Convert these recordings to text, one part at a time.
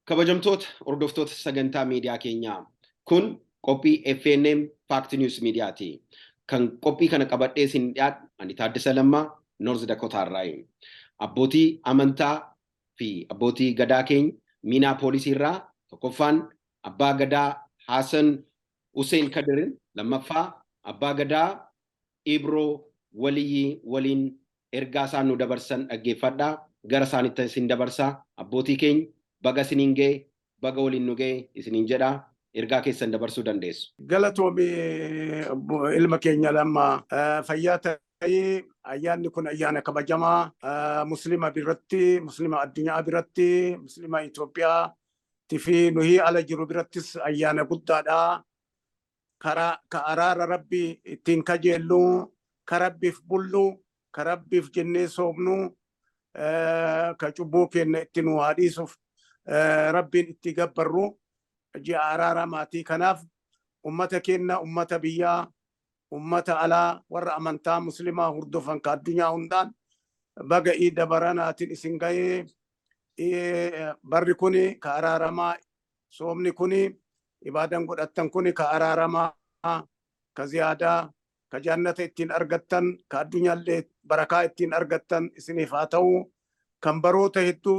Kabajamtoota hordoftoota sagantaa miidiyaa keenyaa kun qophii FNM Fact News Media ti. Kan qophii kana qabadhee isin dhiyaadhu ani Taaddasa Lammaa North Dakota irraayi. Abbootii amantaa fi abbootii gadaa keenya miinaa poolisii irraa tokkoffaan abbaa gadaa Haasan Hussein Kadir lammaffaa abbaa gadaa Ibro Waliyi waliin ergaa isaan nu dabarsan dhaggeeffadhaa gara isaanittan isin dabarsa. Abbootii keenya baga isiniin ga'e baga waliin nu ga'e isiniin jedha. Ergaa keessan dabarsuu dandeessu. Galatoomi ilma keenya Lamma. Fayyaa ta'i. Ayyaanni kun ayyaana kabajamaa Muslima biratti, Muslima addunyaa biratti, Muslima Itoophiyaatti fi nuyi ala jiru birattis ayyaana guddaadha. karaa ka araara rabbi ittiin kajeellu ka rabbiif bullu ka rabbiif jennee soomnu ka cubbuu keenya itti nu haa dhiisuuf rabbiin itti gabbarru ji'a araara maatii kanaaf ummata keenya ummata biyyaa ummata alaa warra amantaa muslimaa hordofan ka addunyaa hundaan baga iida baranaatiin isin ga'ee barri kun ka araaramaa soomni kuni ibaadan godhattan kuni ka araaramaa ka ziyaadaa ka jaannata ittiin argattan ka addunyaallee barakaa ittiin argattan isiniif haa ta'u kan baroota hedduu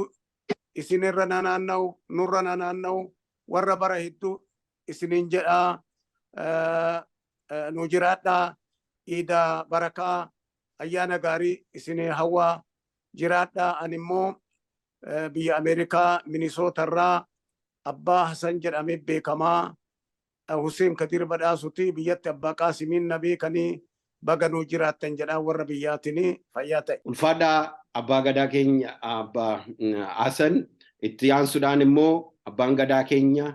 isinirra nanaanna'u nurra nanaanna'u warra bara hedduu isiniin jedhaa nu jiraadhaa iida barakaa ayyaana gaarii isinii hawwaa jiraadhaa ani immoo biyya Ameerikaa Minisoota irraa Abbaa Hasan jedhamee beekamaa Huseen Kadiir Badhaasuti biyyatti Abbaa Qaasimiin na beekanii baga nuu jiraattan jedhaa warra biyyaatinii fayyaa ta'e. Ulfaadhaa Abbaa Gadaa keenya Abbaa Hasan itti aansuudhaan immoo Abbaan Gadaa keenya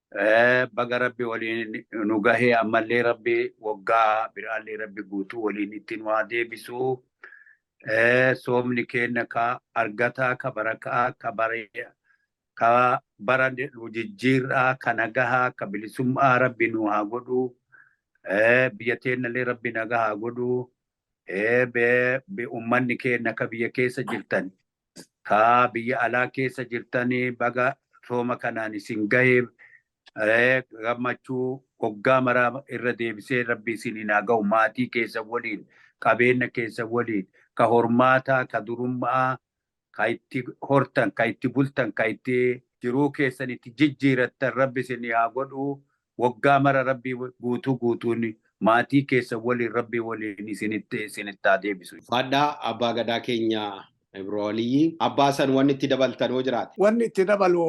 Baga rabbi waliin nu gahee ammallee rabbi waggaa biraallee rabbi guutuu waliin itti nu haa deebisu. Soomni keenya ka argataa ka barakaa ka baree ka bara nu jijjiirraa ka nagahaa ka bilisummaa rabbi nu haa godhu. Biyya teennallee rabbi nagaa haa godhu. Uummanni keenya akka biyya keessa jirtan kaa biyya alaa keessa jirtanii baga sooma kanaan isin gahee gammachuu hoggaa maraa irra deebisee rabbi isiniin haa gahu maatii keessa waliin qabeenya keessa waliin ka hormaataa ka durummaa ka itti hortan, ka itti bultan, ka itti jiruu keessan itti jijjiirattan Rabbi isinii haa godhu. Woggaa mara Rabbi guutuu guutuun maatii keessan waliin Rabbi waliin isinitti isinitti haa deebisu. Ufaadhaa Abbaa Gadaa keenya Ibro Aliyyi. Abbaa Hasan wanni itti dabaltan hoo jiraate? Wanni itti dabalu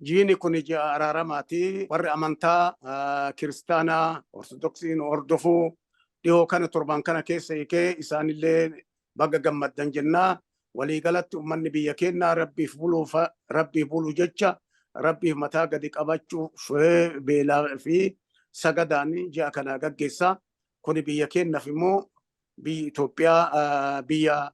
jiini kuni ji'a araaramaati. Warri amantaa kiristaanaa, ortodoksii nu hordofu dhihoo kana torban kana keessa hiikee isaanillee baga gammaddan jenna. Walii galatti ummanni biyya keennaa Rabbiif buluuf Rabbiif bulu jecha Rabbiif mataa gadi qabachuuf beelaa fi sagadaan ji'a kana gaggeessa. Kuni biyya keennaaf immoo biyyi Itoophiyaa biyya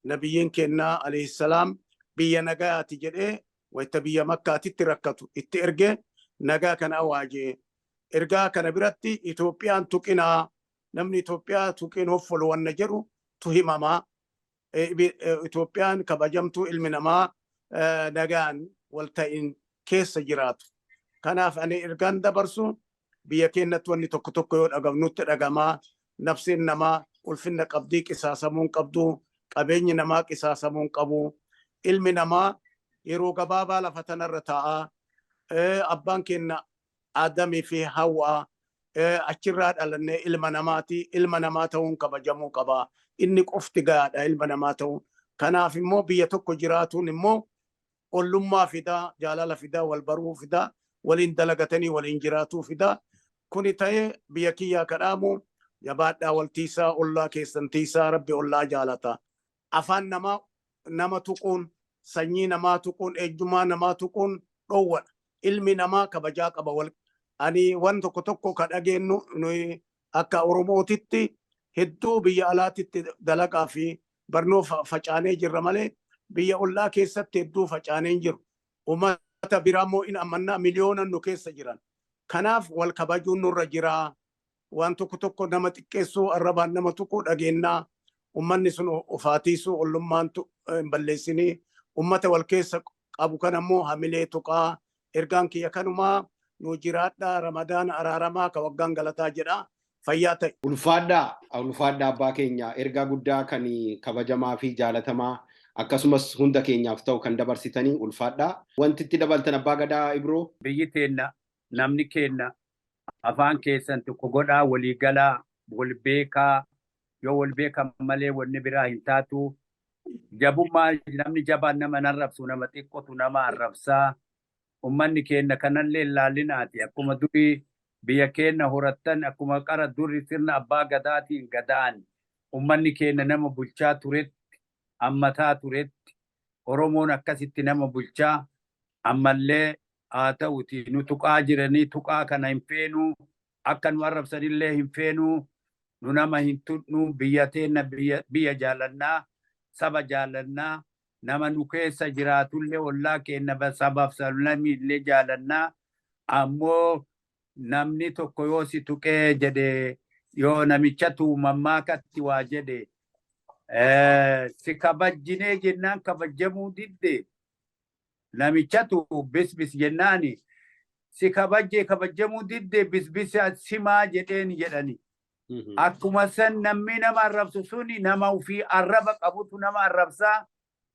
nabiyyiin keennaa alayhissalaam biyya nagayaati jedhee wayta biyya makkaatitti rakkatu itti erge nagaa kana awaaje. Ergaa kana biratti Itoophiyaan tuqinaa namni Itoophiyaa tuqeen hoffolu wanna jedhu tu himamaa. Itoophiyaan kabajamtuu ilmi namaa nagaan wal ta'in keessa jiraatu. Kanaaf ani ergaan dabarsu biyya keenyatti wanni tokko tokko yoo dhagamnutti dhagamaa nafseen namaa ulfinna qabdii qisaasamuun qabdu qabeenyi namaa qisaasamuun qabu ilmi namaa yeroo gabaabaa lafa tanarra taa'aa abbaan keenya Aadamii fi Hawwaa, achirraa dhalanne, ilma namaati. Ilma namaa ta'uun kabajamuu qaba. Inni qofti gahaadha ilma namaa ta'uun. Kanaaf immoo biyya tokko jiraatuun immoo ollummaa fida, jaalala fida, wal baruu fida, waliin dalagatanii waliin jiraatuu fida. Kuni ta'ee biyya kiyyaa ka dhaamu jabaadhaa wal tiisaa, ollaa keessan tiisaa, Rabbi ollaa jaalata. afaan namaa nama tuquun, sanyii namaa tuquun, eenyummaa namaa tuquun dhoowwadha. Ilmi namaa kabajaa qaba. Wal ani waan tokko tokko ka dhageennu nuyi akka Oromootitti hedduu biyya alaatitti dalagaa fi barnoo fa- facaanee jirra malee biyya ollaa keessatti hedduu facaanee hin jiru. Uummata biraa immoo in ammannaa miliyoonan nu keessa jiran. Kanaaf wal kabajuun nurra jiraa. waan tokko tokko nama xiqqeessuu arrabaan nama tuquu dhageennaa ummanni sun ofaatiisuu ollummaan hin balleessinii ummata wal keessa qabu kan ammoo hamilee tuqaa ergaan kiyya kanumaa nu jiraadhaa ramadaana araaramaa ka waggaan galataa jedhaa fayyaa ta'e. Ulfaadhaa ulfaadhaa abbaa keenya ergaa guddaa kan kabajamaa fi jaalatamaa akkasumas hunda keenyaaf ta'u kan dabarsitanii ulfaadhaa. Wanti itti dabaltan abbaa gadaa Ibroo? Biyyi teenna, namni keenna, afaan keessan tokko godhaa walii galaa wal beekaa yoo wal beekan malee wanni biraa hin taatu jabummaa namni jabaan nama hin arrabsu nama xiqqotu nama arrabsaa ummanni keenna kanallee hin laallinaati akkuma durii biyya keenna horattan akkuma qara duri sirna abbaa gadaatiin gadaan ummanni keenna nama bulchaa turetti ammataa turetti oromoon akkasitti nama bulchaa ammallee haa ta'uti nu tuqaa jiranii tuqaa kana hin feenuu akka nu arrabsanillee hin feenuu nu nama hin tuqnu biyya teenna biyya jaalannaa saba jaalannaa nama nu keessa jiraatullee ollaa keenna sabaaf sablamii illee jaalannaa ammoo namni tokko yoo si tuqee jedhe yoo namicha tuumammaa katti waa jedhe si kabajjinee jennaan kabajjamuu didde Namichatu bisbis jennaani si kabajje kabajjamuu didde bisbisa simaa jedheen jedhani. Akkuma san namni nama arrabsu suni nama ofii arraba qabutu nama arrabsaa.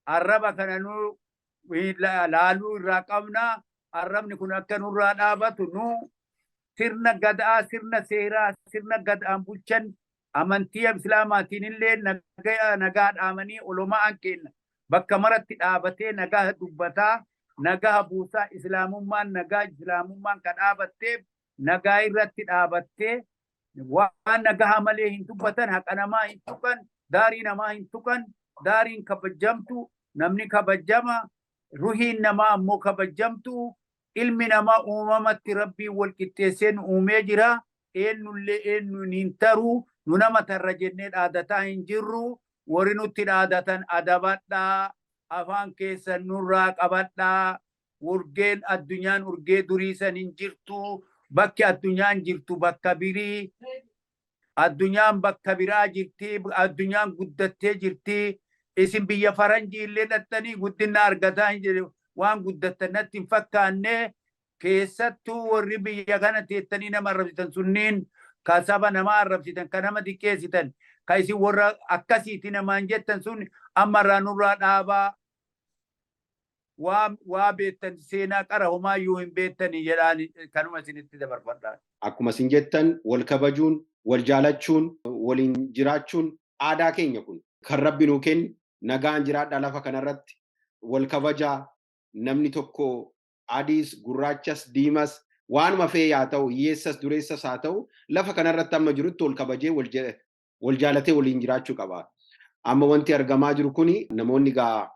Arraba kana nu laaluu irraa qabna. Arrabni kun akka nurraa dhaabatu nu sirna gadaa, sirna seeraa, sirna gadaan bulchan Amantiia Islaamaatiinillee nagaya nagaa dhaamanii uloma'aan keenna bakka maratti dhaabatee nagaha dubbataa, nagaha buusaa, Islaamummaan nagaa, Islaamummaan ka dhaabatteef nagaa irratti dhaabatte, waan nagahaa malee hin dubbatan, haqa namaa hin tuqan, daarii namaa hin tuqan, daariin kabajjamtu, namni kabajjama, ruhiin namaa ammoo kabajjamtu, ilmi namaa uumamatti Rabbiin wal qixxeessee nu uumee jira, Eennullee eennuun hin taru, nu nama tarra jennee dhaadataa hin jirru, worri nutti dhaadatan adabadhaa, afaan keessan nurraa qabadhaa, urgeen addunyaan urgee durii san hin jirtu, bakki addunyaan jirtu bakka birii, addunyaan bakka biraa jirti, addunyaan guddattee jirti, isin biyya faranjiillee dhaxxanii guddinna argataa hin jirtu, waan guddattan natti hin fakkaanne, keessattuu warri biyya kana teettanii nama arrabsitan sunniin ka saba nama arrabsitan ka nama xiqqeessitan ka isin warra akkasiiti namaan jettan sun amma irraa nurraa dhaabaa waa waa beektan seenaa qara homaa iyyuu hin beektanii jedhaan kanuma isinitti dabarfadhaa. Akkuma isin jettan wal kabajuun, wal jaalachuun, waliin jiraachuun aadaa keenya kun kan rabbi nuu kenne nagaan jiraadhaa lafa kanarratti wal kabajaa namni tokko adiis, gurraachas, diimas, waanuma fe'e yaa ta'u, hiyyeessas, dureessas haa ta'u, lafa kana irratti amma jirutti wal kabajee, wal ja- wal jaalatee waliin jiraachuu qaba. Amma wanti argamaa jiru kuni namoonni egaa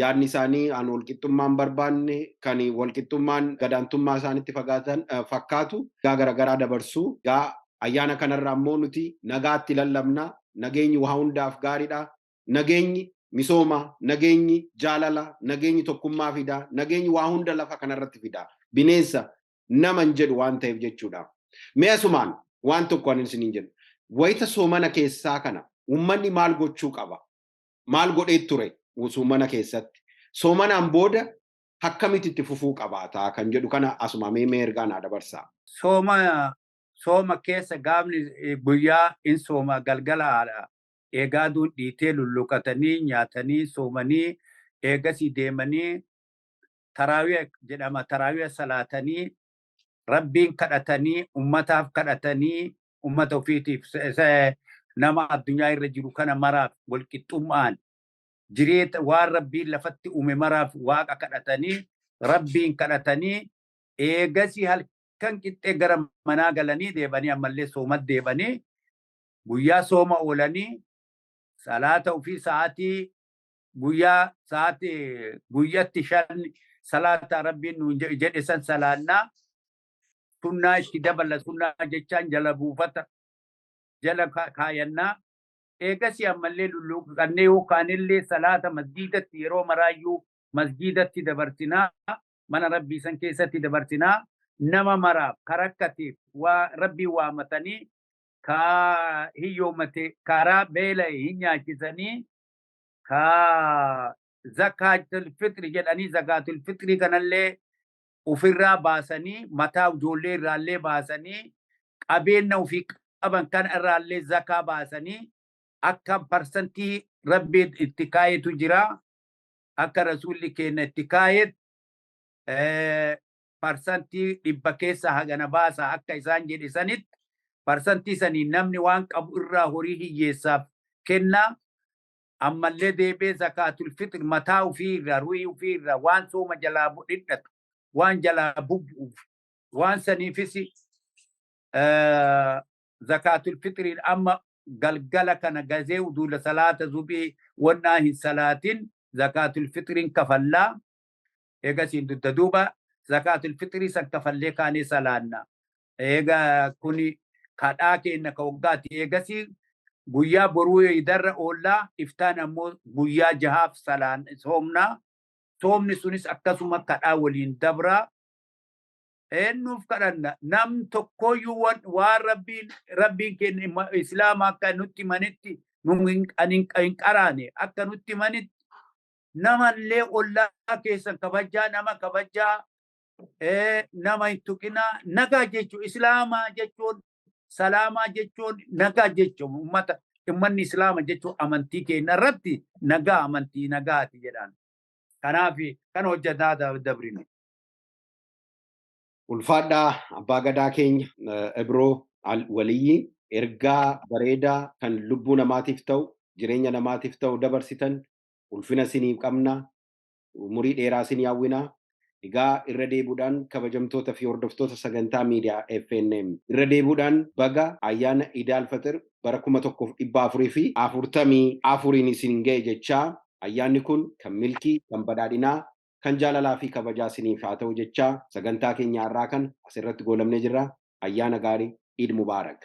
yaadni isaanii an walqixxummaa hin barbaanne, kan walqixxummaan gadaantummaa isaanitti fagaatan eh, fakkaatu, gaa garagaraa dabarsu. Gaa ayyaana kanarra ammoo nuti nagaatti lallabna, nageenyi waa hundaaf gaariidha, nageenyi misooma, nageenyi jaalala, nageenyi tokkummaa fida, nageenyi waa hunda lafa kanarratti fida. Bineensa, nama hin jedhu waan ta'eef jechuudha. Mee asumaan waan tokko anin isiniin jedhu. Wayita soomana keessaa kana uummanni maal gochuu qaba? Maal godhee ture soomana keessatti? Soomanaan booda akkamitti itti fufuu qabaata kan jedhu kana asumaa mee mee ergaa naa dabarsaa. Sooma sooma keessa gaafni guyyaa in sooma galgala haadha eega aduun dhiitee lulluqatanii, nyaatanii, soomanii, eegasii deemanii taraawiha jedhama taraawiha salaatanii, Rabbiin kadhatanii, ummataaf kadhatanii, ummata ofiitiif nama addunyaa irra jiru kana maraaf walqixxum'aan jireeta waan Rabbiin lafatti uume maraaf waaqa kadhatanii, Rabbiin kadhatanii, eegasii halkan qixxee gara manaa galanii deebanii ammallee soomat deebanii, guyyaa sooma oolanii salaata ofii sa'aatii guyyaa sa'aati guyyatti shan salaata rabbiin nuun je- jedhe san salaannaa sunnaa itti dabala sunnaa jechaan jala buufata jala ka- kaayannaa eegasii ammallee lulluuqqannee yookaanillee salaata masjiidatti yeroo maraayyuu masjiidatti dabarsinaa mana rabbii san keessatti dabarsinaa nama maraaf karakkateef waa rabbii waamatanii ka hiyyoommate karaa beela'e hin nyaachisanii ka zakaatul fixri jedhanii zakaatul fixrii kanallee ofirraa baasanii mataa ijoollee irraallee baasanii qabeenya ofii qaban kan irraallee zakaa baasanii akka parsantii rabbiin itti kaayetu jira akka rasuulli keenya itti kaayetu parsantii dhibba keessaa hagana baasa akka isaan jedhe sanitti parsantii saniin namni waan qabu irraa horii hiyyeessaaf kenna ammallee deebee zakaatul fixir mataa ofii irraa ruhii ofii irraa waan sooma jalaa dhidhatu waan jalaa bubbu'uuf waan saniifis zakaatul fixiriin amma galgala kana gazee uduula salaata zubii wannaa hin salaatin zakaatul fixiriin kafallaa eegasiin dudda duuba zakaatul fixrii san kafallee kaanee salaanna eega kuni kadhaa keenna ka waggaati eegasii guyyaa boruu eeydarra oollaa iftaan ammoo guyyaa jahaaf salaan soomnaa soomni sunis akkasuma kadhaa waliin dabraa eennuuf kadhanna nam tokkooyyuu wan- waan rabbiin rabbiin keenya imma- islaama akka nutti manitti nu hin- ani hin hin qaraane akka nutti manitti namallee ollaa keessan kabajaa nama kabajaa eh, nama hin tuqinaa nagaa jechuun islaamaa jechuun salaamaa jechuun nagaa jechuun ummata ummanni islaama jechuun amantii keenya irratti nagaa amantii nagaati jedhaan kanaaf kan hojjetaa da- dabrine. Ulfaadhaa abbaa gadaa keenya eh, Ibroo Al- Waliyyii ergaa bareedaa kan lubbuu namaatiif ta'u jireenya namaatiif ta'u dabarsitan ulfina isiniif qabna umurii dheeraa isinii hawwina egaa irra deebuudhaan kabajamtoota fi hordoftoota sagantaa miidiyaa FNM irra deebuudhaan baga ayyaana Idaal Faxir bara 1444n isin ga'e jechaa ayyaanni kun kan milkii kan badhaadhinaa kan jaalalaa fi kabajaa isiniif haa ta'u jechaa sagantaa keenya har'aa kana asirratti goolabnee jirra ayyaana gaarii Eid Mubarak.